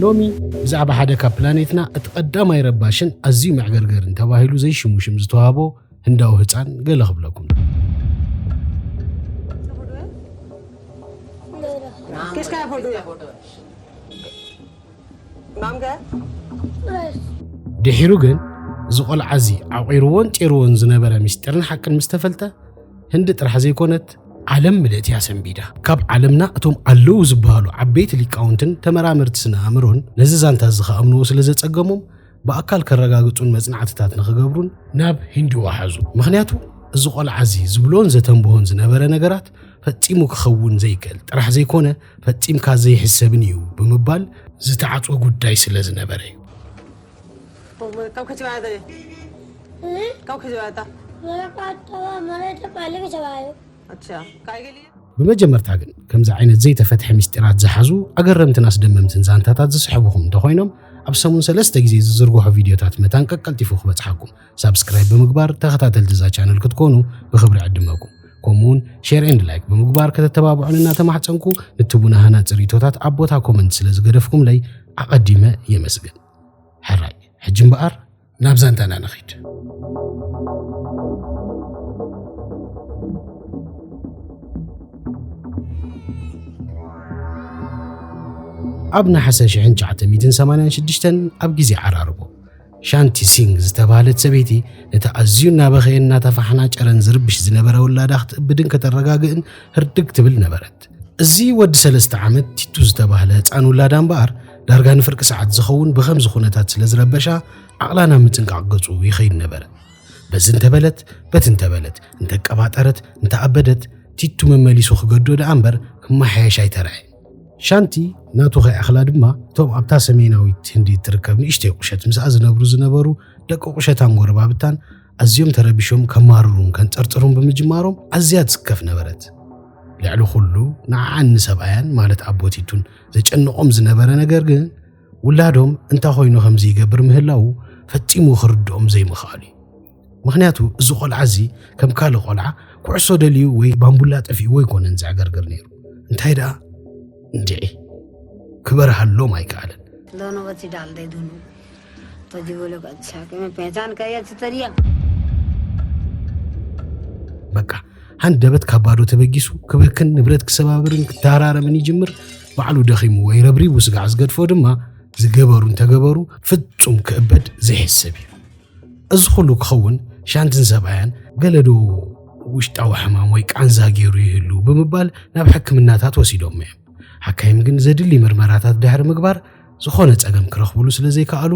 ሎሚ ብዛዕባ ሓደ ካብ ፕላኔትና እቲ ቀዳማይ ረባሽን ኣዝዩ መዕገርገርን ተባሂሉ ዘይሽሙ ሽም ዝተዋህቦ ህንዳዊ ህፃን ገለ ክብለኩም ድሒሩ ግን እዚ ቆልዓ እዚ ዓቑሩዎን ጤሩዎን ዝነበረ ምስጢርን ሓቅን ምስ ተፈልጠ ህንዲ ጥራሕ ዘይኮነት ዓለም ምልእቲ እያ ሰንቢዳ። ካብ ዓለምና እቶም ኣለዉ ዝበሃሉ ዓበይቲ ሊቃውንትን ተመራመርቲ ስነ ኣእምሮን ነዚ ዛንታ እዚ ክኣምንዎ ስለ ዘጸገሞም ብኣካል ከረጋግጹን መጽናዕትታት ንኽገብሩን ናብ ሂንዲ ወሓዙ። ምኽንያቱ እዚ ቆልዓ እዚ ዝብሎን ዘተንብሆን ዝነበረ ነገራት ፈጺሙ ክኸውን ዘይክእል ጥራሕ ዘይኮነ ፈጺምካ ዘይሕሰብን እዩ ብምባል ዝተዓጽወ ጉዳይ ስለ ዝነበረ እዩ። ብመጀመርታ ግን ከምዚ ዓይነት ዘይተፈትሐ ምስጢራት ዝሓዙ ኣገረምትን ኣስደመምትን ዛንታታት ዝስሕብኹም እንተኾይኖም ኣብ ሰሙን ሰለስተ ግዜ ዝዝርግሖ ቪድዮታት መታን ቀቀልጢፉ ክበጽሓኩም ሳብስክራይብ ብምግባር ተኸታተልቲ እዛ ቻነል ክትኮኑ ብክብሪ ዕድመኩም ከምኡውን ሼር ኤንድ ላይክ ብምግባር ከተተባብዑን እናተማሕፀንኩ ንትቡና ሃናፂ ሪቶታት ኣብ ቦታ ኮመንት ስለ ዝገደፍኩምለይ ኣቐዲመ የመስግን ሕራይ ሕጂ እምበኣር ናብ ዛንታና ንኺድ ኣብ ነሓሰ 1986 ኣብ ግዜ ዓራርቦ ሻንቲ ሲንግ ዝተባህለት ሰበይቲ ነቲ ኣዝዩ እናበኸየን እናተፋሕናጨረን ዝርብሽ ዝነበረ ውላዳ ክትእብድን ከተረጋግእን ህርድግ ትብል ነበረት እዚ ወዲ ሰለስተ ዓመት ቲቱ ዝተባህለ ህፃን ውላዳ እምበኣር ዳርጋ ንፍርቂ ሰዓት ዝኸውን ብኸምዚ ኩነታት ስለ ዝረበሻ ዓቕላ ናብ ምፅንቃቕ ገፁ ይኸይድ ነበረ። በዚ እንተበለት በቲ እንተበለት እንተቀባጠረት እንተኣበደት ቲቱ መመሊሱ ክገዶ ደኣ እምበር ክመሓየሽ ኣይተርዐ ሻንቲ ናቱ ከይኣኽላ ድማ እቶም ኣብታ ሰሜናዊት ህንዲ እትርከብ ንእሽተይ ቁሸት ምስኣ ዝነብሩ ዝነበሩ ደቂ ቁሸታን ጎረባብታን ኣዝዮም ተረቢሾም ከማርሩን ከንጸርጽሩን ብምጅማሮም ኣዝያ ትስከፍ ነበረት። ልዕሊ ኹሉ ንዓዓን ንሰብኣያን ማለት ኣቦቲቱን ዘጨንቖም ዝነበረ ነገር ግን ውላዶም እንታ ኾይኑ ከምዚ ይገብር ምህላው ፈጺሙ ክርድኦም ዘይምኽኣሉ እዩ። ምክንያቱ እዚ ቆልዓ እዚ ከም ካልእ ቆልዓ ኩዕሶ ደልዩ ወይ ባምቡላ ጠፊእዎ ኣይኮነን ዘዕገርግር ነይሩ። እንታይ ደኣ እንድዒ ክበርሃሎም ኣይከኣለን። በቃ ሃንደበት ካብ ባዶ ተበጊሱ ክብክን ንብረት ክሰባብርን ክተሃራረምን ይጅምር ባዕሉ ደኺምዎ ይረብሪቡ ስጋዕ ዝገድፎ ድማ ዝገበሩ እንተገበሩ ፍጹም ክእበድ ዘይሕሰብ እዩ እዚ ኩሉ ክኸውን ሻንትን ሰብኣያን ገለዶ ውሽጣዊ ሕማም ወይ ቃንዛ ገይሩ ይህሉ ብምባል ናብ ሕክምናታት ወሲዶም እዮም ሓካይም ግን ዘድሊ ምርመራታት ድሕሪ ምግባር ዝኾነ ጸገም ክረኽብሉ ስለ ዘይከኣሉ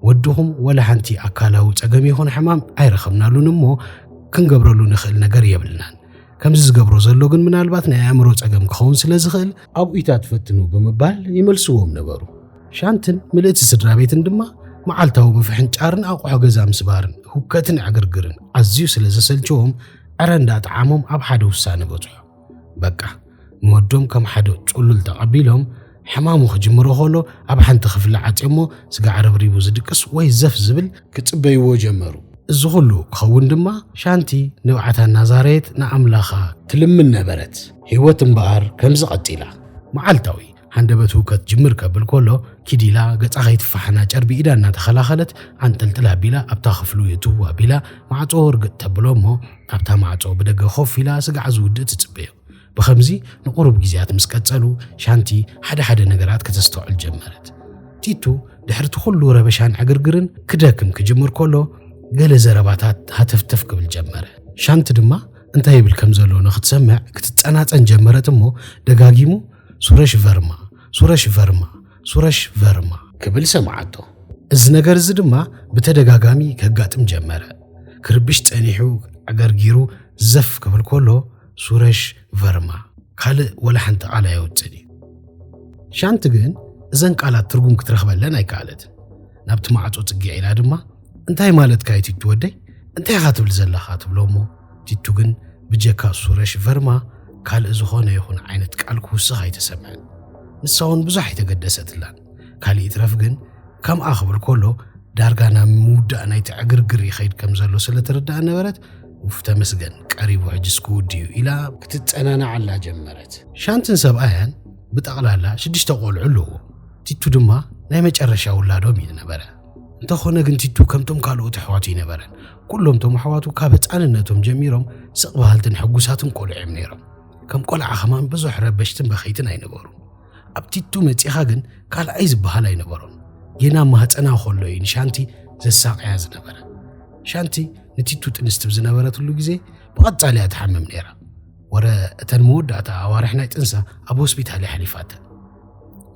ወድኹም ወላ ሓንቲ ኣካላዊ ጸገም ይኹን ሕማም ኣይረኸብናሉን እሞ ክንገብረሉ ንኽእል ነገር የብልናን። ከምዚ ዝገብሮ ዘሎ ግን ምናልባት ናይ ኣእምሮ ጸገም ክኸውን ስለ ዝኽእል ኣብኡታት ፈትኑ ብምባል ይመልስዎም ነበሩ። ሻንትን ምልእቲ ስድራ ቤትን ድማ መዓልታዊ ምፍሕንጫርን ኣቑሑ ገዛ ምስባርን ሁከትን ዕግርግርን ኣዝዩ ስለ ዘሰልቸዎም ዕረ እንዳጠዓሞም ኣብ ሓደ ውሳነ በጽሑ። በቃ ንወዶም ከም ሓደ ጹሉል ተቐቢሎም ሕማሙ ክጅምሮ ከሎ ኣብ ሓንቲ ክፍሊ ዓጽዮሞ ስጋ ዓረብሪቡ ዝድቅስ ወይ ዘፍ ዝብል ክጽበይዎ ጀመሩ። እዚ ኹሉ ክኸውን ድማ ሻንቲ ንብዓታ እናዛረየት ንኣምላኻ ትልምን ነበረት። ህይወት እምበኣር ከምዚ ቀጺላ። መዓልታዊ ሃንደበት ህውከት ጅምር ከብል ከሎ ኪድ ኢላ ገጻ ከይትፋሓና ጨርቢ ኢዳ እናተኸላኸለት ዓንጠልጥል ኣቢላ ኣብታ ክፍሉ የእትው ኣቢላ ማዕጾ ርግጥ ተብሎ እሞ ኣብታ ማዕጾ ብደገ ኮፍ ኢላ ስጋዕ ዝውድእ ትጽበዮ ብኸምዚ ንቑሩብ ግዜያት ምስ ቀጸሉ ሻንቲ ሓደ ሓደ ነገራት ከተስተውዕል ጀመረት ቲቱ ድሕሪ እቲ ኩሉ ረበሻን ዕግርግርን ክደክም ክጅምር ከሎ ገለ ዘረባታት ሃተፍተፍ ክብል ጀመረ ሻንቲ ድማ እንታይ ይብል ከም ዘሎ ንክትሰምዕ ክትጸናጸን ጀመረት እሞ ደጋጊሙ ሱረሽ ቨርማ፣ ሱረሽ ቨርማ፣ ሱረሽ ቨርማ። ክብል ሰምዓቶ። እዚ ነገር እዚ ድማ ብተደጋጋሚ ከጋጥም ጀመረ። ክርብሽ ጸኒሑ ኣገርጊሩ ዘፍ ክብል ከሎ ሱረሽ ቨርማ ካልእ ወላ ሓንቲ ቃል ኣየውጽእን እዩ። ሻንቲ ግን እዘን ቃላት ትርጉም ክትረኽበለን ኣይከኣለትን። ናብቲ ማዕጾ ጽግዕ ኢላ ድማ እንታይ ማለትካ እዩ ቲቱ ወደይ እንታይ ኢኻ ትብል ዘለኻ ትብሎ እሞ ቲቱ ግን ብጀካ ሱረሽ ቨርማ ካልእ ዝኾነ ይኹን ዓይነት ቃል ክውስኽ ኣይተሰምዐን። ንሳ እውን ብዙሕ ኣይተገደሰትላን። ካልእ ይትረፍ ግን ከምኣ ክብል ከሎ ዳርጋ ናብ ምውዳእ ናይቲ ዕግርግር ይኸይድ ከም ዘሎ ስለ ትርዳእ ነበረት ውፍ ተመስገን ቀሪቡ ሕጅስ ክውድዩ ኢላ ክትጸናናዓላ ጀመረት። ሻንትን ሰብኣያን ብጠቕላላ ሽዱሽተ ቆልዑ ኣለዎ። ቲቱ ድማ ናይ መጨረሻ ውላዶም እዩ ዝነበረ። እንተኾነ ግን ቲቱ ከምቶም ካልኦት ኣሕዋቱ ይነበረን ኩሎም እቶም ኣሕዋቱ ካብ ህፃንነቶም ጀሚሮም ስቕ በሃልትን ሕጉሳትን ቆልዑ እዮም ነይሮም። ከም ቆልዓ ከማን ብዙሕ ረበሽትን በኸይትን ኣይነበሩ። ኣብ ቲቱ መፂኻ ግን ካልኣይ ዝበሃል ኣይነበሮም። ጌና ማህፀና ከሎ እዩ ንሻንቲ ዘሳቀያ ዝነበረ። ሻንቲ ንቲቱ ጥንስቲ ብዝነበረትሉ ግዜ ብቐፃሊ እያ ትሓምም ነይራ። ወረ እተን መወዳእታ ኣዋርሕ ናይ ጥንሳ ኣብ ሆስፒታል እያ ሓሊፋተን።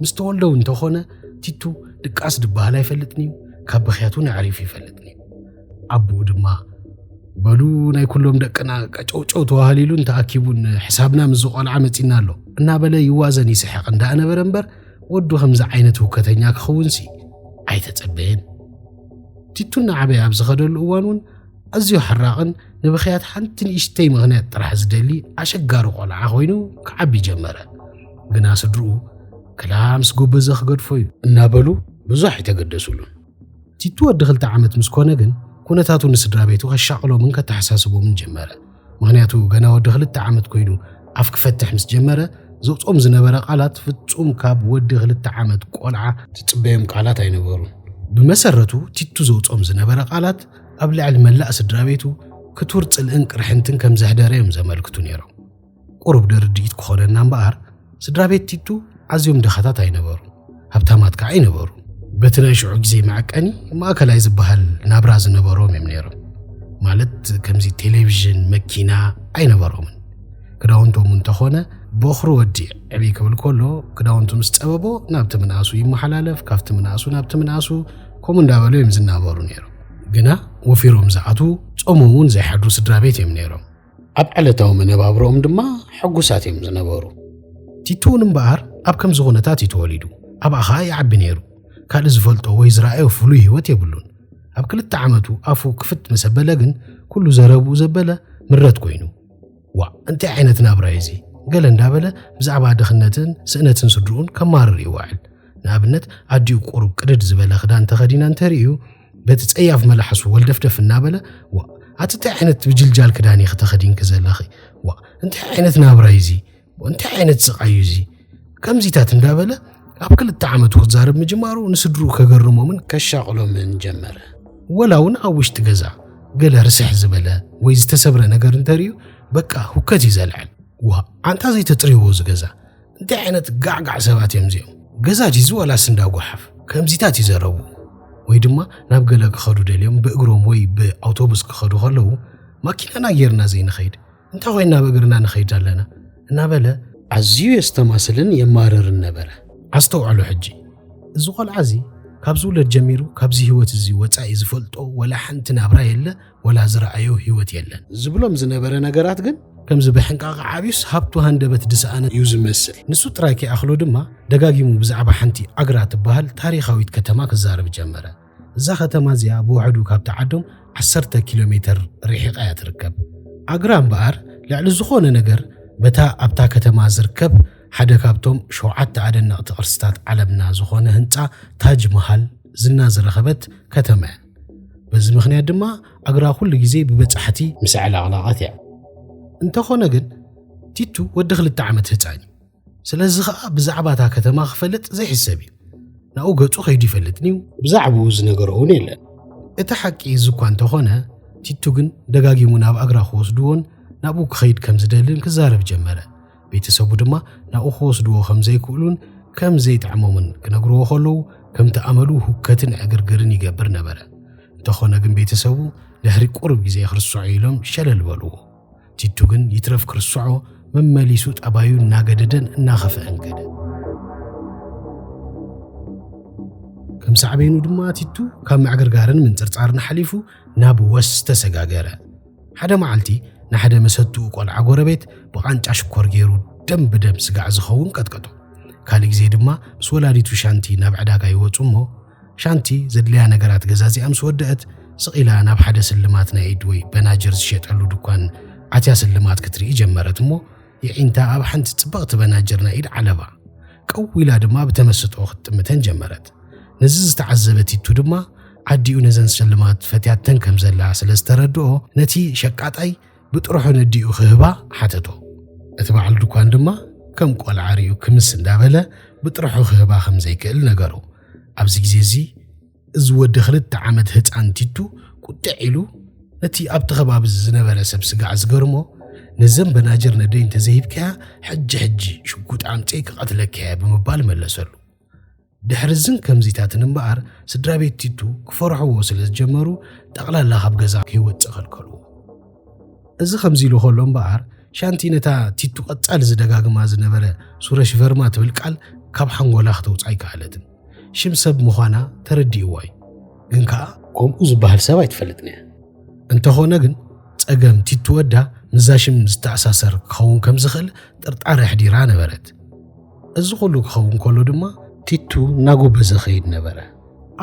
ምስ ተወልደው እንተኾነ ቲቱ ድቃስ ድበሃል ኣይፈልጥን እዩ ካብ ብኽያት እውን ኣዕሪፉ ይፈልጥን እዩ ኣቦኡ ድማ በሉ ናይ ኩሎም ደቅና ቀጨውጨው ተዋህሊሉን ተኣኪቡን ሕሳብና ምስ ዝቆልዓ መፂና ኣሎ እናበለ ይዋዘን ይስሕቕ እንዳነበረ እምበር ወዱ ከምዚ ዓይነት ህውከተኛ ክኸውንሲ ኣይተጸበየን ቲቱ እናዓበየ ኣብ ዝኸደሉ እዋን እውን ኣዝዩ ሓራቕን ንብኽያት ሓንቲ ንእሽተይ ምኽንያት ጥራሕ ዝደሊ ኣሸጋሪ ቆልዓ ኮይኑ ክዓቢ ጀመረ። ግና ስድርኡ ክላ ምስ ጎበዘ ክገድፎ እዩ እናበሉ ብዙሕ ኣይተገደሱሉን። ቲቱ ወዲ ክልተ ዓመት ምስ ኮነ ግን ኩነታቱ ንስድራ ቤቱ ከሻቕሎምን ከተሓሳስቦምን ጀመረ። ምኽንያቱ ገና ወዲ ክልተ ዓመት ኮይኑ ኣፍ ክፈትሕ ምስ ጀመረ ዘውፅኦም ዝነበረ ቃላት ፍፁም ካብ ወዲ ክልተ ዓመት ቆልዓ ትፅበዮም ቃላት ኣይነበሩን። ብመሰረቱ ቲቱ ዘውፅኦም ዝነበረ ቃላት ኣብ ልዕሊ መላእ ስድራ ቤቱ ክቱር ፅልእን ቅርሕንትን ከም ዘሕደረ እዮም ዘመልክቱ ነይሮም። ቁሩብ ደርድኢት ክኾነና እምበኣር ስድራ ቤት ቲቱ ኣዝዮም ድኻታት ኣይነበሩን፣ ሃብታማት ከዓ ኣይነበሩ። በቲ ናይ ሽዑ ግዜ መዐቀኒ ማእከላይ ዝበሃል ናብራ ዝነበሮም እዮም ነይሮም። ማለት ከምዚ ቴሌቪዥን፣ መኪና ኣይነበሮምን። ክዳውንቶም እንተኾነ ቦኽሪ ወዲ ዕብይ ክብል ከሎ ክዳውንቱ ምስ ጸበቦ ናብቲ ምንኣሱ ይመሓላለፍ፣ ካብቲ ምንኣሱ ናብቲ ምንኣሱ ከምኡ እንዳበሉ እዮም ዝናበሩ ነይሮም። ግና ወፊሮም ዝኣትዉ ጾሞም እውን ዘይሓድሩ ስድራ ቤት እዮም ነይሮም። ኣብ ዕለታዊ መነባብሮኦም ድማ ሕጉሳት እዮም ዝነበሩ። ቲቱውን እምበኣር ኣብ ከምዚ ኩነታት እዩ ተወሊዱ፣ ኣብኣ ኸኣ ይዓቢ ነይሩ። ካልእ ዝፈልጦ ወይ ዝረኣዮ ፍሉይ ህይወት የብሉን። ኣብ ክልተ ዓመቱ ኣፉ ክፍት ምስ ኣበለ ግን ኩሉ ዘረብኡ ዘበለ ምረት ኮይኑ፣ ዋእ እንታይ ዓይነት ናብራ እዩ እዚ? ገለ እንዳበለ ብዛዕባ ድኽነትን ስእነትን ስድርኡን ከማርር ይዋዕል። ንኣብነት ኣዲኡ ቁሩብ ቅድድ ዝበለ ክዳን ተኸዲና እንተርእዩ፣ በቲ ጸያፍ መላሕሱ ወልደፍደፍ እናበለ ዋ ኣቲ እንታይ ዓይነት ብጅልጃል ክዳን ኢኺ ተኸዲንኪ ዘለኺ ዋ እንታይ ዓይነት ናብራ እዩ እዚ እንታይ ዓይነት ስቓይ እዩ እዚ ከምዚታት እንዳበለ ኣብ ክልተ ዓመቱ ክዛረብ ምጅማሩ ንስድሩ ከገርሞምን ከሻቕሎምን ጀመረ። ወላ እውን ኣብ ውሽጢ ገዛ ገለ ርስሕ ዝበለ ወይ ዝተሰብረ ነገር እንተርእዩ በቃ ሁከት እዩ ዘልዕል። ዋ ኣንታ ዘይተፅርይዎ ዝገዛ እንታይ ዓይነት ጋዕጋዕ ሰባት እዮም እዚኦም ገዛ ጂዚ ዋላስ እንዳ ጓሓፍ ከምዚታት እዩ ዘረቡ ወይ ድማ ናብ ገለ ክኸዱ ደልዮም ብእግሮም ወይ ብኣውቶቡስ ክኸዱ ከለዉ ማኪናና ጌርና ዘይንኸይድ እንታይ ኮይና ብእግርና ንኸይድ ኣለና እናበለ ኣዝዩ የስተማስልን የማርርን ነበረ ኣስተውዕሉ ሕጂ እዚ ቆልዓ እዚ ካብ ዝውለድ ጀሚሩ ካብዚ ህይወት እዚ ወፃኢ ዝፈልጦ ወላ ሓንቲ ናብራ የለ ወላ ዝረኣዮ ህይወት የለን። ዝብሎም ዝነበረ ነገራት ግን ከምዚ ብሕንቃቐ ዓብዩስ ሃብቱ ሃንደበት ድሰኣነ እዩ ዝመስል። ንሱ ጥራይ ከይኣኽሎ ድማ ደጋጊሙ ብዛዕባ ሓንቲ ኣግራ ትበሃል ታሪኻዊት ከተማ ክዛረብ ጀመረ። እዛ ከተማ እዚኣ ብውሕዱ ካብታ ዓዶም ዓሰርተ ኪሎ ሜተር ርሒቓ እያ ትርከብ። ኣግራ እምበኣር ልዕሊ ዝኾነ ነገር በታ ኣብታ ከተማ ዝርከብ ሓደ ካብቶም ሸውዓተ ኣደነቕቲ ቅርስታት ዓለምና ዝኾነ ህንጻ ታጅ መሃል ዝና ዝረኸበት ከተማ እያ። በዚ ምኽንያት ድማ ኣግራ ኩሉ ግዜ ብበጻሕቲ ምስ ዕላቕላቐት እያ። እንተኾነ ግን ቲቱ ወዲ ክልተ ዓመት ህጻን እዩ። ስለዚ ኸኣ ብዛዕባ እታ ከተማ ክፈልጥ ዘይሕሰብ እዩ። ናብኡ ገጹ ከይዱ ይፈልጥን እዩ። ብዛዕባኡ ዝነገሮ እውን የለን። እቲ ሓቂ እዚ እኳ እንተኾነ ቲቱ ግን ደጋጊሙ ናብ ኣግራ ክወስድዎን ናብኡ ክኸይድ ከም ዝደልን ክዛረብ ጀመረ። ቤተሰቡ ድማ ናብኡ ክወስድዎ ከም ዘይክእሉን ከም ዘይጥዕሞምን ክነግርዎ ከለዉ ከምቲ ኣመሉ ሁከትን ዕግርግርን ይገብር ነበረ። እንተኾነ ግን ቤተሰቡ ድሕሪ ቁሩብ ግዜ ክርስዖ ኢሎም ሸለል በልዎ። ቲቱ ግን ይትረፍ ክርስዖ መመሊሱ ጠባዩ እናገደደን እናኸፍዐን ከደ። ከም ሳዕቤኑ ድማ ቲቱ ካብ ምዕግርጋርን ምንጽርጻርን ሓሊፉ ናብ ወስ ተሰጋገረ። ሓደ መዓልቲ ንሓደ መሰትኡ ቆልዓ ጎረቤት ብቓንጫ ሽኮር ገይሩ ደም ብደም ስጋዕ ዝኸውን ቀጥቀጦ። ካልእ ግዜ ድማ ምስ ወላዲቱ ሻንቲ ናብ ዕዳጋ ይወጹ እሞ ሻንቲ ዘድልያ ነገራት ገዛዚኣ ምስ ወደአት ስቕ ኢላ ናብ ሓደ ስልማት ናይ ኢድ ወይ በናጅር ዝሸጠሉ ድኳን ኣትያ ስልማት ክትርኢ ጀመረት እሞ የዒንታ ኣብ ሓንቲ ጽብቕቲ በናጅር ናይ ኢድ ዓለባ ቀው ኢላ ድማ ብተመስጦ ክትጥምተን ጀመረት። ነዚ ዝተዓዘበ ቲቱ ድማ ዓዲኡ ነዘን ስልማት ፈትያተን ከም ዘላ ስለ ዝተረድኦ ነቲ ሸቃጣይ ብጥርሑ ነዲኡ ክህባ ሓተቶ። እቲ በዓል ድኳን ድማ ከም ቆልዓ ሪኡ ክምስ እንዳበለ ብጥርሑ ክህባ ከም ዘይክእል ነገሮ። ኣብዚ ግዜ እዚ እዚ ወዲ ክልተ ዓመት ህጻን ቲቱ ቁጢዕ ኢሉ ነቲ ኣብቲ ከባቢ ዝነበረ ሰብ ስጋዕ ዝገርሞ ነዘን በናጅር ነደይ እንተዘይሂብካያ ሕጂ ሕጂ ሽጉጥ ኣምጺእ ክቐትለካያ ብምባል መለሰሉ። ድሕሪ እዝን ከምዚታትን እምበኣር ስድራ ቤት ቲቱ ክፈርሕዎ ስለ ዝጀመሩ ጠቕላላ ካብ ገዛ ከይወጽእ ከልከልዎ። እዚ ከምዚ ኢሉ ከሎ እምበኣር ሻንቲ ነታ ቲቱ ቀጻሊ ዝደጋግማ ዝነበረ ሱረሽ ቨርማ ትብል ቃል ካብ ሓንጎላ ክተውጽኣ ኣይከኣለትን። ሽም ሰብ ምዃና ተረዲእዎ እዩ ግን ከኣ ከምኡ ዝበሃል ሰብ ኣይትፈልጥን እያ። እንተኾነ ግን ጸገም ቲቱ ወዳ ምስዛ ሽም ዝተኣሳሰር ክኸውን ከም ዝኽእል ጥርጣረ ኣሕዲራ ነበረት። እዚ ኩሉ ክኸውን ከሎ ድማ ቲቱ እናጎበዘ ኸይድ ነበረ።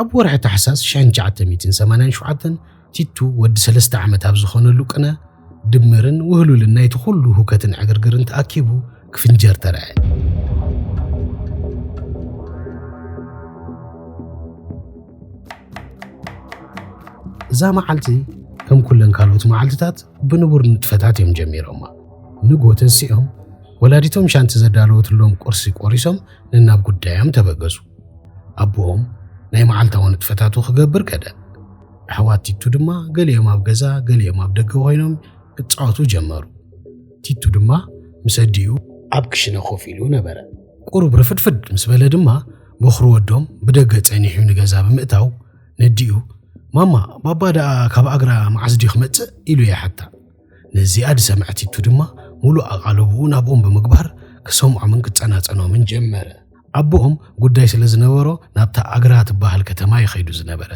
ኣብ ወርሒ ታሕሳስ ሽሕን ትሽዓተ ሚእትን ሰማንያን ሸውዓተን ቲቱ ወዲ ሰለስተ ዓመት ኣብ ዝኾነሉ ቅነ ድምርን ውህሉልን ናይቲ ኩሉ ሁከትን ዕግርግርን ተኣኪቡ ክፍንጀር ተረዐ። እዛ መዓልቲ ከም ኩለን ካልኦት መዓልትታት ብንቡር ንጥፈታት እዮም ጀሚሮማ። ንጎ ተንሲኦም ወላዲቶም ሻንቲ ዘዳለወትሎም ቁርሲ ቆሪሶም ንናብ ጉዳዮም ተበገሱ ኣቦኦም ናይ መዓልታዊ ንጥፈታቱ ክገብር ከደ ኣሕዋት ቲቱ ድማ ገሊኦም ኣብ ገዛ ገሊኦም ኣብ ደገ ኮይኖም ክጻወቱ ጀመሩ። ቲቱ ድማ ምስ ኣዲኡ ኣብ ክሽነ ኮፍ ኢሉ ነበረ። ቁሩብ ርፍድፍድ ምስ በለ ድማ ቦኽሪ ወዶም ብደገ ጸኒሑ ንገዛ ብምእታው ነዲኡ ማማ ባባ ደኣ ካብ ኣግራ መዓስ ድዩ ክመጽእ ኢሉ ይሓታ። ነዚኣ ዝሰምዐ ቲቱ ድማ ሙሉእ ኣቓልቦኡ ናብኦም ብምግባር ክሰምዖምን ክጸናጸኖምን ጀመረ። ኣቦኦም ጉዳይ ስለ ዝነበሮ ናብታ ኣግራ ትበሃል ከተማ እዩ ከይዱ ዝነበረ።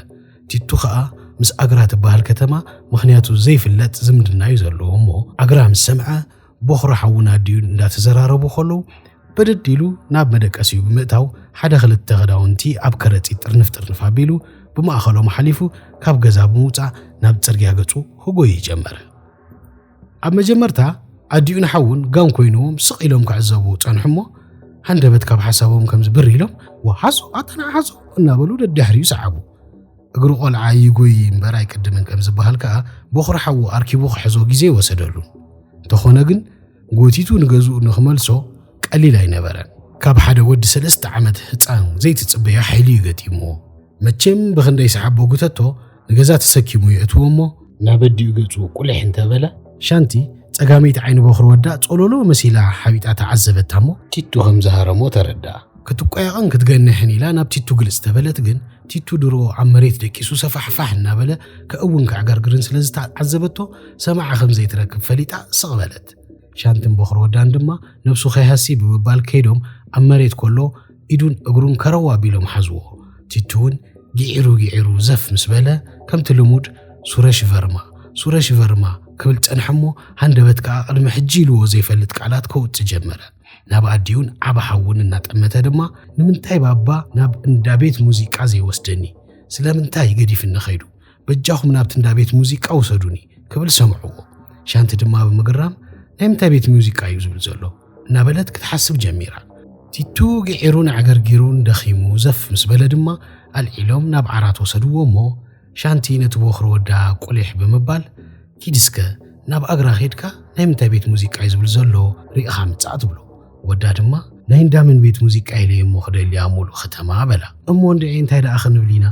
ቲቱ ከኣ ምስ ኣግራ ትበሃል ከተማ ምኽንያቱ ዘይፍለጥ ዝምድና እዩ ዘለዎ እሞ ኣግራ ምስ ሰምዐ ቦኽሪ ሓውና ድዩ እንዳተዘራረቡ ከለዉ ብድድ ኢሉ ናብ መደቀሲኡ ብምእታው ሓደ ክልተ ክዳውንቲ ኣብ ከረጺት ጥርንፍ ጥርንፍ ኣቢሉ ብማእኸሎም ሓሊፉ ካብ ገዛ ብምውጻእ ናብ ጽርግያ ገጹ ክጎይ ጀመረ። ኣብ መጀመርታ ኣዲኡን ሓውን ጋም ኮይኖም ስቕ ኢሎም ክዕዘቡ ጸንሑ እሞ ሃንደበት ካብ ሓሳቦም ከም ዝብር ኢሎም ወሓዞ ኣታ ንዓሓዞ እናበሉ ደድሕሪኡ ሰዓቡ። እግሪ ቆልዓ ይጎይ እምበር ኣይቅድምን ከም ዝበሃል ከኣ ቦኽሪ ሓዉ ኣርኪቡ ክሕዞ ግዜ ወሰደሉ። እንተኾነ ግን ጎቲቱ ንገዝኡ ንክመልሶ ቀሊል ኣይነበረን። ካብ ሓደ ወዲ ሰለስተ ዓመት ህጻን ዘይትጽበዮ ሓይሊ'ዩ ገጢምዎ። መቸም ብኽንደይ ሰሓቦ ጉተቶ ንገዛ ተሰኪሙ የእትዎ እሞ፣ ናብ ኣዲኡ ገጹ ቁሊሕ እንተበለ፣ ሻንቲ ጸጋመይቲ ዓይኒ ቦኽሪ ወዳ ጾሎሎ መሲላ ሓቢጣ ተዓዘበታ እሞ፣ ቲቱ ከም ዝሃረሞ ተረድኣ። ክትቆያቕን ክትገንሕን ኢላ ናብ ቲቱ ግልጽ ተበለት ግን ቲቱ ድሮ ኣብ መሬት ደቂሱ ሰፋሕፋሕ እናበለ ከእውን ከዕገርግርን ስለ ዝተዓዘበቶ ሰማዒ ከም ዘይትረክብ ፈሊጣ ስቕ በለት። ሻንትን ቦኽሪ ወዳን ድማ ነብሱ ከይሃሲ ብምባል ከይዶም ኣብ መሬት ከሎ ኢዱን እግሩን ከረው ኣቢሎም ሓዝዎ። ቲቱ እውን ግዒሩ ግዒሩ ዘፍ ምስ በለ ከምቲ ልሙድ ሱረሽ ቨርማ ሱረሽ ቨርማ ክብል ጸንሐ እሞ ሃንደበት ከኣ ቅድሚ ሕጂ ኢልዎ ዘይፈልጥ ቃላት ከውጽእ ጀመረ። ናብ ኣዲኡን ዓባ ሓውን እናጠመተ ድማ ንምንታይ ባባ ናብ እንዳ ቤት ሙዚቃ ዘይወስደኒ ስለምንታይ ገዲፍኒ ከይዱ በጃኹም ናብቲ እንዳ ቤት ሙዚቃ ውሰዱኒ ክብል ሰምዕዎ ሻንቲ ድማ ብምግራም ናይ ምንታይ ቤት ሙዚቃ እዩ ዝብል ዘሎ እናበለት ክትሓስብ ጀሚራ ቲቱ ግዒሩን ኣዕገርጊሩን ደኺሙ ዘፍ ምስ በለ ድማ ኣልዒሎም ናብ ዓራት ወሰድዎ እሞ ሻንቲ ነቲ ቦኽሪ ወዳ ቁሊሕ ብምባል ኪድ እስከ ናብ ኣግራ ኬድካ ናይ ምንታይ ቤት ሙዚቃ'ዩ ዝብል ዘሎ ሪእኻ ምጻእ ትብሎ። ወዳ ድማ ናይ እንዳ መን ቤት ሙዚቃ ኢለ እየ'ሞ ክደሊ ኣብ ሙሉእ ከተማ በላ። እሞ እንድዒ እንታይ ደኣ ክንብል ኢና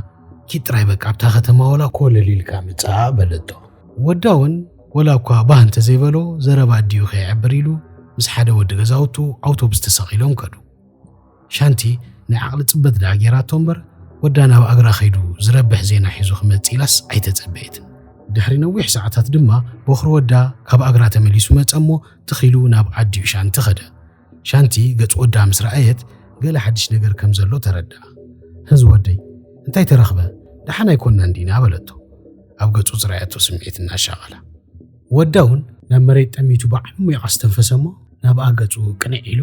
ኪድ ጥራይ በቃ ኣብታ ከተማ ወላ ኮለል ኢልካ ምጻእ በለቶ። ወዳ ውን ወላ እኳ ባህ እንተዘይበሎ ዘረባ ኣዲኡ ከየዕብር ኢሉ ምስ ሓደ ወዲ ገዛውቱ ኣውቶብስ ተሰቒሎም ከዱ። ሻንቲ ናይ ዓቕሊ ጽበት ደኣ ጌራቶ እምበር፣ ወዳ ናብ ኣግራ ከይዱ ዝረብሕ ዜና ሒዙ ክመጽእ ኢላስ ኣይተጸበየትን። ድሕሪ ነዊሕ ሰዓታት ድማ ቦኽሪ ወዳ ካብ ኣግራ ተመሊሱ መጸ'ሞ ትኽ ኢሉ ናብ ኣዲኡ ሻንቲ ከደ። ሻንቲ ገጽ ወዳ ምስ ረኣየት ገለ ሓድሽ ነገር ከም ዘሎ ተረድኣ። ህዝ ወደይ፣ እንታይ ተረኽበ? ደሓን ኣይኮናን ዲና? በለቶ ኣብ ገጹ ዝረኣየቶ ስምዒት እናሻቐላ። ወዳ እውን ናብ መሬት ጠሚቱ ብዓሚቕ ኣስተንፈሰ እሞ ናብኣ ገጹ ቅንዕ ኢሉ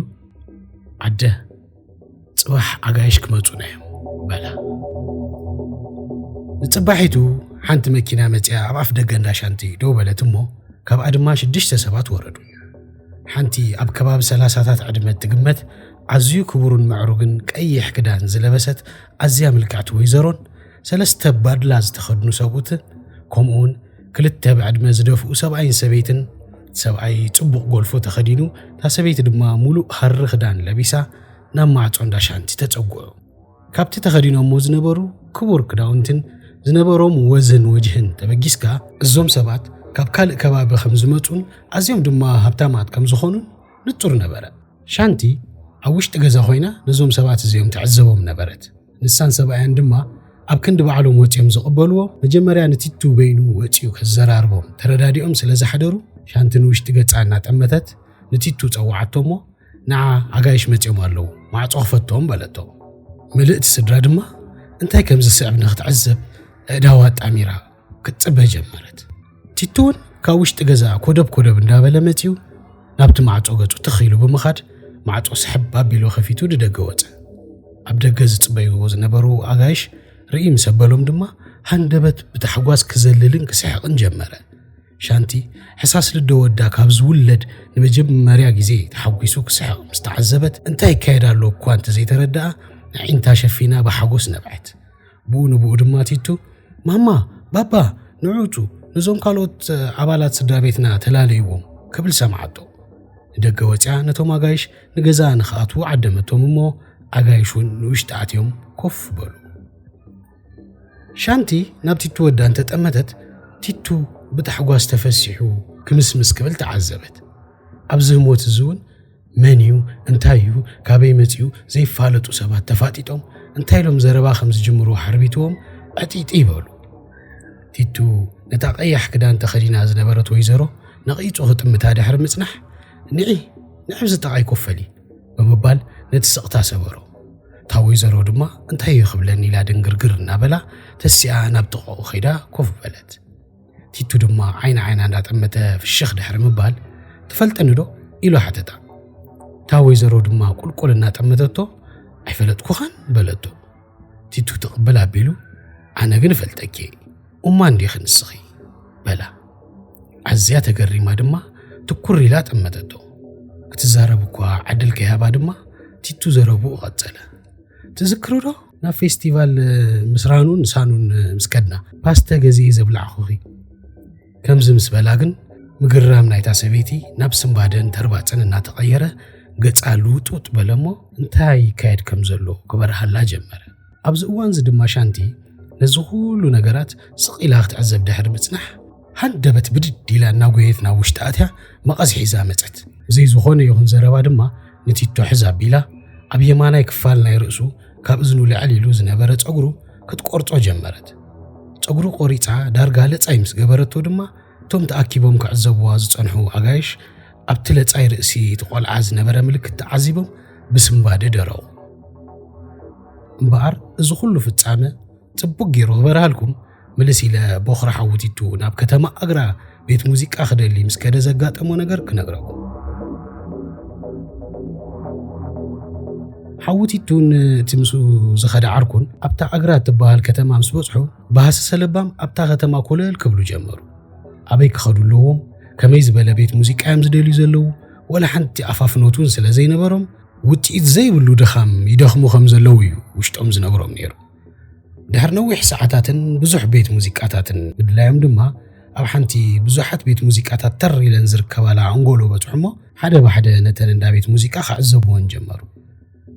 ኣደ ጽባሕ ኣጋይሽ ክመጹና እዮም በላ ንጽባሒቱ ሓንቲ መኪና መጽያ ኣብ ኣፍ ደገ እንዳ ሻንቲ ደው በለት እሞ ካብኣ ድማ ሽዱሽተ ሰባት ወረዱ ሓንቲ ኣብ ከባቢ ሰላሳታት ዕድመ እትግመት ኣዝዩ ክቡርን ምዕሩግን ቀይሕ ክዳን ዝለበሰት ኣዝያ ምልክዕቲ ወይዘሮን ሰለስተ ባድላ ዝተኸድኑ ሰብኡትን ከምኡውን ክልተ ብዕድመ ዝደፍኡ ሰብኣይን ሰበይትን እቲ ሰብኣይ ጽቡቕ ጎልፎ ተኸዲኑ እታ ሰበይቲ ድማ ሙሉእ ሃሪ ክዳን ለቢሳ ናብ ማዕጾ እንዳ ሻንቲ ተጸጉዑ። ካብቲ ተኸዲኖሞ ዝነበሩ ክቡር ክዳውንትን ዝነበሮም ወዝን ወጅህን ተበጊስካ እዞም ሰባት ካብ ካልእ ከባቢ ከም ዝመጹን ኣዝዮም ድማ ሃብታማት ከም ዝኾኑን ንጹር ነበረ። ሻንቲ ኣብ ውሽጢ ገዛ ኮይና ነዞም ሰባት እዚኦም ትዕዘቦም ነበረት። ንሳን ሰብኣያን ድማ ኣብ ክንዲ ባዕሎም ወጺኦም ዝቕበልዎ፣ መጀመርያ ንቲቱ በይኑ ወጺኡ ከዘራርቦም ተረዳዲኦም ስለ ዝሓደሩ፣ ሻንቲ ንውሽጢ ገጻ እናጠመተት ንቲቱ ጸውዓቶ'ሞ፣ ንዓ ኣጋይሽ መጺኦም ኣለዉ፣ ማዕጾ ክፈትዎም በለቶ። ምልእቲ ስድራ ድማ እንታይ ከም ዝስዕብ ንኽትዕዘብ ኣእዳዋ ኣጣሚራ፣ ክትፅበ ጀመረት ቲቱ እውን ካብ ውሽጢ ገዛ ኮደብ ኮደብ እንዳበለ መፅዩ ናብቲ ማዕፆ ገፁ ትኽ ኢሉ ብምኻድ ማዕፆ ስሕብ ኣቢሉ ከፊቱ ንደገ ወፀ ኣብ ደገ ዝፅበይዎ ዝነበሩ ኣጋይሽ ርኢ ምስ ኣበሎም ድማ ሃንደበት ብታሕጓስ ክዘልልን ክስሕቕን ጀመረ ሻንቲ ሕሳስ ልዶ ወዳ ካብ ዝውለድ ንመጀመርያ ግዜ ተሓጒሱ ክስሕቕ ምስ ተዓዘበት እንታይ ይካየድ ኣሎ እኳ እንተዘይተረድኣ ንዒንታ ሸፊና ብሓጎስ ነብዐት ብኡ ንብኡ ድማ ቲቱ፣ ማማ፣ ባባ፣ ንዑ'ቱ ነዞም ካልኦት ኣባላት ስድራ ቤትና ተላለይዎም፣ ክብል ሰምዓቶ። ንደገ ወጺኣ ነቶም ኣጋይሽ ንገዛኣ ንኽኣትዉ ዓደመቶም እሞ ኣጋይሽ እውን ንውሽጢ ኣትዮም ኮፍ በሉ። ሻንቲ ናብ ቲቱ ወዳ እንተጠመተት ቲቱ ብታሕጓስ ተፈሲሑ ክምስምስ ክብል ተዓዘበት። ኣብዚ ህሞት እዚ እውን መን እዩ፣ እንታይ እዩ፣ ካበይ መጺኡ ዘይፋለጡ ሰባት ተፋጢጦም እንታይ ኢሎም ዘረባ ከም ዝጅምሩ ሓርቢትዎም ዕጥይጥይ በሉ። ቲቱ ነታ ቀያሕ ክዳን ተኸዲና ዝነበረት ወይዘሮ ነቒጹ ክጥምታ ድሕሪ ምጽናሕ ንዒ ንዕብ ዝጠቓይ ኮፈሊ ብምባል ነቲ ስቕታ ሰበሮ። እታ ወይዘሮ ድማ እንታይ እዩ ክብለኒ ኢላ ድንግርግር እናበላ ተሲኣ ናብ ጥቓኡ ከይዳ ኮፍ በለት። ቲቱ ድማ ዓይኒ ዓይና እንዳጠመተ ፍሽኽ ድሕሪ ምባል ትፈልጠኒ ዶ ኢሉ ሓተታ እታ ወይዘሮ ድማ ቁልቁል እናጠመተቶ ኣይፈለጥኩኻን በለቶ ቲቱ ትቕብል ኣቢሉ ኣነ ግን እፈልጠኪ እማ እንዲኺ ንስኺ በላ ኣዝያ ተገሪማ ድማ ትኩር ኢላ ጠመተቶ ክትዛረብ እኳ ዕድል ከይሃባ ድማ ቲቱ ዘረብኡ ቐጸለ ትዝክሩ ዶ ናብ ፌስቲቫል ምስ ራኑን ሳኑን ምስ ከድና ፓስተ ገዚኤ ዘብላዕኹኺ ከምዚ ምስ በላ ግን ምግርራም ናይታ ሰበይቲ ናብ ስምባደን ተርባፅን እናተቐየረ ገፃ ልውጥውጥ በለ እሞ እንታይ ይካየድ ከም ዘሎ ክበርሃላ ጀመረ። ኣብዚ እዋንዚ ድማ ሻንቲ ነዚ ኩሉ ነገራት ስቕ ኢላ ክትዕዘብ ድሕሪ ምጽናሕ ሃንደበት ብድድ ኢላ እናጎየት ናብ ውሽጢ ኣትያ መቐስ ሒዛ መጸት። ብዘይ ዝኾነ ይኹን ዘረባ ድማ ንቲቶ ሕዝ ኣቢላ ኣብ የማናይ ክፋል ናይ ርእሱ ካብ እዝኑ ልዕል ኢሉ ዝነበረ ጸጉሩ ክትቆርጾ ጀመረት። ጸጉሩ ቆሪጻ ዳርጋ ለጻይ ምስ ገበረቶ ድማ እቶም ተኣኪቦም ክዕዘብዋ ዝጸንሑ ኣጋይሽ ኣብቲ ለጻይ ርእሲ እቲ ቆልዓ ዝነበረ ምልክት ተዓዚቦም ብስምባደ ደረቑ። እምበኣር እዚ ኩሉ ፍጻመ ጽቡቅ ጌሩ ክበርሃልኩም ምልስ ኢለ ቦኽሪ ሓውቲቱ ናብ ከተማ ኣግራ ቤት ሙዚቃ ክደሊ ምስ ከደ ዘጋጠሞ ነገር ክነግረኩም ሓውቲቱን እቲ ምስኡ ዝኸደ ዓርኩን ኣብታ ኣግራ እትበሃል ከተማ ምስ በጽሑ ባህሲ ሰለባም ኣብታ ከተማ ኮለል ክብሉ ጀመሩ ኣበይ ክኸዱ ኣለዎም ከመይ ዝበለ ቤት ሙዚቃ እዮም ዝደልዩ ዘለዉ ወላ ሓንቲ ኣፋፍኖት እውን ስለ ዘይነበሮም ውፅኢት ዘይብሉ ድኻም ይደኽሙ ከም ዘለዉ እዩ ውሽጦም ዝነግሮም ነይሩ ድሕሪ ነዊሕ ሰዓታትን ብዙሕ ቤት ሙዚቃታትን ምድላዮም ድማ ኣብ ሓንቲ ብዙሓት ቤት ሙዚቃታት ተር ኢለን ዝርከባላ ኣንጎሎ በጽሑ እሞ ሓደ ብሓደ ነተን እንዳ ቤት ሙዚቃ ክዕዘብዎን ጀመሩ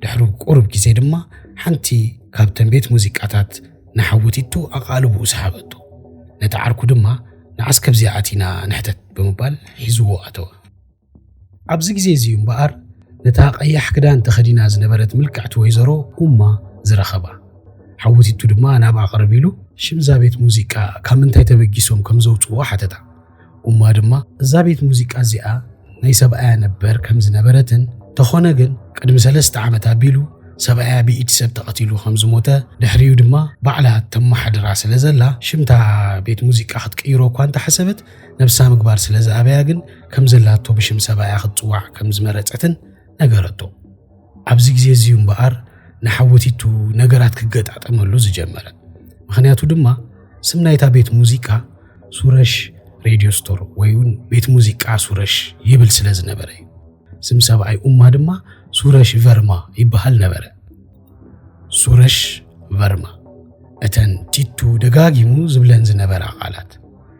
ድሕሪ ቁሩብ ግዜ ድማ ሓንቲ ካብተን ቤት ሙዚቃታት ንሓውቲቱ ኣቓልብኡ ሰሓበቶ ነቲ ዓርኩ ድማ ንዓስ ከብዚኣ ኣቲና ንሕተት ብምባል ሒዝዎ ኣተወ ኣብዚ ግዜ እዚ እዩ እምበኣር ነታ ቀያሕ ክዳን ተኸዲና ዝነበረት ምልክዕቲ ወይዘሮ ኡማ ዝረኸባ። ሓውቲቱ ድማ ናብኣ ቅርብ ኢሉ ሽም እዛ ቤት ሙዚቃ ካብ ምንታይ ተበጊሶም ከም ዘውጽእዎ ሓተታ። ኡማ ድማ እዛ ቤት ሙዚቃ እዚኣ ናይ ሰብኣያ ነበር ከም ዝነበረትን ተኾነ ግን ቅድሚ ሰለስተ ዓመት ኣቢሉ ሰብኣያ ብኢድ ሰብ ተቐቲሉ ከም ዝሞተ ድሕሪኡ ድማ ባዕላ ተመሓድራ ስለ ዘላ ሽምታ ቤት ሙዚቃ ክትቅይሮ እኳ እንተሓሰበት ነብሳ ምግባር ስለ ዝኣበያ ግን ከም ዘላቶ ብሽም ሰብኣያ ክትጽዋዕ ከም ዝመረጸትን ነገረቶ። ኣብዚ ግዜ እዚ'ዩ እምበኣር ንሓወቲቱ ነገራት ክገጣጠመሉ ዝጀመረ። ምኽንያቱ ድማ ስም ናይታ ቤት ሙዚቃ ሱረሽ ሬድዮ ስቶር ወይ እውን ቤት ሙዚቃ ሱረሽ ይብል ስለ ዝነበረ እዩ። ስም ሰብኣይ ኡማ ድማ ሱረሽ ቨርማ ይበሃል ነበረ። ሱረሽ ቨርማ እተን ቲቱ ደጋጊሙ ዝብለን ዝነበራ ቃላት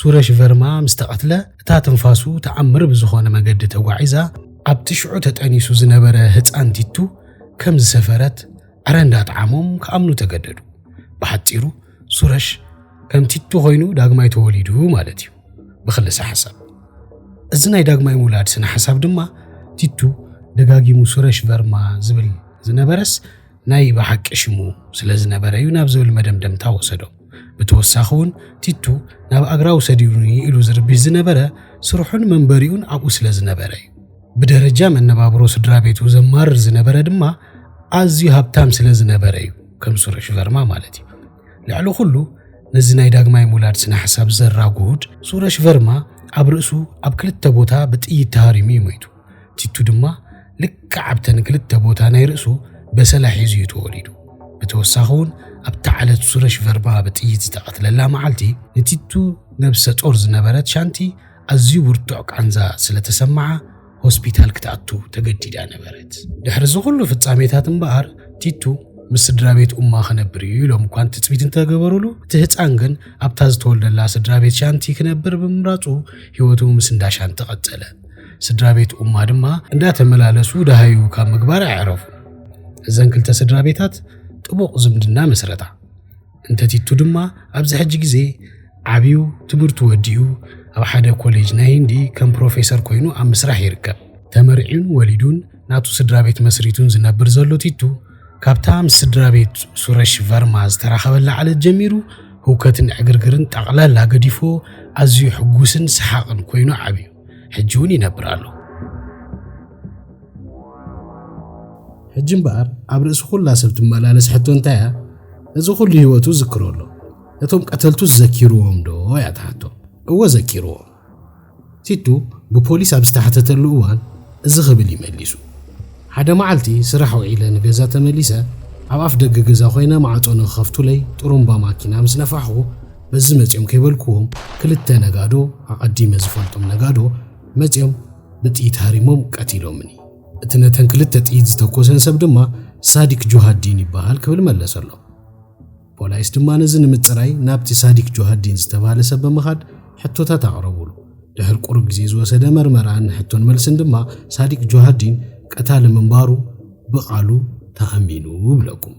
ሱረሽ ቨርማ ምስ ተቐትለ፣ እታ ትንፋሱ ተኣምር ብዝኾነ መገዲ ተጓዒዛ ኣብቲ ሽዑ ተጠኒሱ ዝነበረ ህጻን ቲቱ ከም ዝሰፈረት ዕረ እንዳጠዓሞም ክኣምኑ ተገደዱ። ብሓጺሩ ሱረሽ ከም ቲቱ ኮይኑ ዳግማይ ተወሊዱ ማለት እዩ ብክልሰ ሓሳብ። እዚ ናይ ዳግማይ ምውላድ ስነ ሓሳብ ድማ ቲቱ ደጋጊሙ ሱረሽ ቨርማ ዝብል ዝነበረስ ናይ ብሓቂ ሽሙ ስለ ዝነበረ እዩ ናብ ዝብል መደምደምታ ወሰዶም። ብተወሳኺ'ውን ቲቱ ናብ ኣግራብ ውሰዱኒ ኢሉ ዝርብሽ ዝነበረ ስርሑን መንበሪኡን ኣብኡ ስለ ዝነበረ እዩ። ብደረጃ መነባብሮ ስድራ ቤቱ ዘማርር ዝነበረ ድማ ኣዝዩ ሃብታም ስለ ዝነበረ እዩ፣ ከም ስሩሽ ቨርማ ማለት እዩ። ልዕሊ ኩሉ ነዚ ናይ ዳግማይ ምውላድ ስነ ሓሳብ ዘራጉድ ሱረሽ ቨርማ ኣብ ርእሱ ኣብ ክልተ ቦታ ብጥይት ተሃሪሙ እዩ ሞይቱ። ቲቱ ድማ ልክዕ ኣብተን ክልተ ቦታ ናይ ርእሱ በሰላ ሒዙ እዩ ተወሊዱ። ብተወሳኺ እውን ኣብታ ዓለት ሱረሽ ቨርማ ብጥይት ዝተቐትለላ መዓልቲ ንቲቱ ነብሰ ጾር ዝነበረት ሻንቲ ኣዝዩ ብርቱዕ ቃንዛ ስለ ተሰምዓ ሆስፒታል ክትኣቱ ተገዲዳ ነበረት። ድሕሪ እዚ ኩሉ ፍጻሜታት እምበኣር ቲቱ ምስ ስድራ ቤት ኡማ ክነብር እዩ ኢሎም እኳ ትጽቢት እንተገበሩሉ እቲ ህጻን ግን ኣብታ ዝተወልደላ ስድራ ቤት ሻንቲ ክነብር ብምምራጹ ህይወቱ ምስ እንዳ ሻንቲ ቀጸለ። ስድራ ቤት ኡማ ድማ እንዳተመላለሱ ደሃዩ ካብ ምግባር ኣዕረፉን። እዘን ክልተ ስድራ ቤታት ጥቡቕ ዝምድና መስረታ። እንተ ቲቱ ድማ ኣብዚ ሕጂ ግዜ ዓብዩ ትምህርቱ ወዲኡ ኣብ ሓደ ኮሌጅ ናይ ህንዲ ከም ፕሮፌሰር ኮይኑ ኣብ ምስራሕ ይርከብ። ተመርዕዩን ወሊዱን ናቱ ስድራ ቤት መስሪቱን ዝነብር ዘሎ ቲቱ፣ ካብታ ምስ ስድራ ቤት ሱረሽ ቨርማ ዝተራኸበላ ዕለት ጀሚሩ ህውከትን ዕግርግርን ጠቕላላ ገዲፍዎ ኣዝዩ ሕጉስን ሰሓቕን ኮይኑ ዓብዩ። ሕጂ እውን ይነብር ኣሎ። ሕጂ እምበኣር ኣብ ርእሲ ዅላ ሰብ ትመላለስ ሕቶ እንታይ እያ? እዚ ዅሉ ህይወቱ ዝክሮ ኣሎ። እቶም ቀተልቱ ዘኪርዎም ዶ እያ እታ ሕቶ? እወ ዘኪርዎም። ቲቱ ብፖሊስ ኣብ ዝተሓተተሉ እዋን እዚ ክብል እዩ መሊሱ። ሓደ መዓልቲ ስራሕ ውዒለ ንገዛ ተመሊሰ ኣብ ኣፍ ደገ ገዛ ኾይነ ማዕጾ ንኽኸፍቱለይ ጥሩምባ ማኪና ምስ ነፋሕኹ በዚ መጽዮም ከይበልክዎም ክልተ ነጋዶ ኣቐዲመ ዝፈልጦም ነጋዶ መጽዮም ብጥይት ሃሪሞም ቀቲሎምኒ። እቲ ነተን ክልተ ጥይት ዝተኮሰን ሰብ ድማ ሳዲክ ጆሃዲን ይበሃል ክብል መለሰሎም። ፖላይስ ድማ ነዚ ንምጽራይ ናብቲ ሳዲክ ጆሃዲን ዝተባህለ ሰብ ብምኻድ ሕቶታት ኣቕረቡሉ። ድሕር ቁሩብ ግዜ ዝወሰደ መርመራን ሕቶን መልስን ድማ ሳዲክ ጆሃዲን ቀታሊ ምንባሩ ብቓሉ ተኣሚኑ እብለኩም።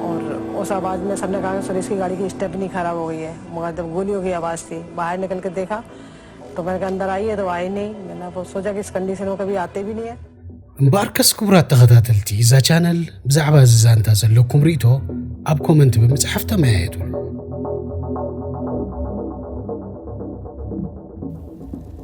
ኦር ኡስ ኣባድ መ ሰብነ ካገ ሶ ዴስኪ ጋዲ ኪ ስቴፕ ኒ ካራብ ኦገ ዬ ሞጋ ደብ ጎሊዮ ኪ ኣባስ ቲ ባሀር ኒከል ክ ዴካ ቶ ገር ጋን ደር ኣየ ቶ ኣይ ኔ መ ና ፎ ሶጃ ኪስ ከንዲ ስኖ ከቢ ኣቴ ቢን ዬ እምበኣርከስ ክቡራት ተኸታተልቲ እዛ ቻነል ብዛዕባ እዚ ዛንታ ዘለኩም ርእቶ ኣብ ኮመንት ብምጽሓፍ ተመያየጡሉ።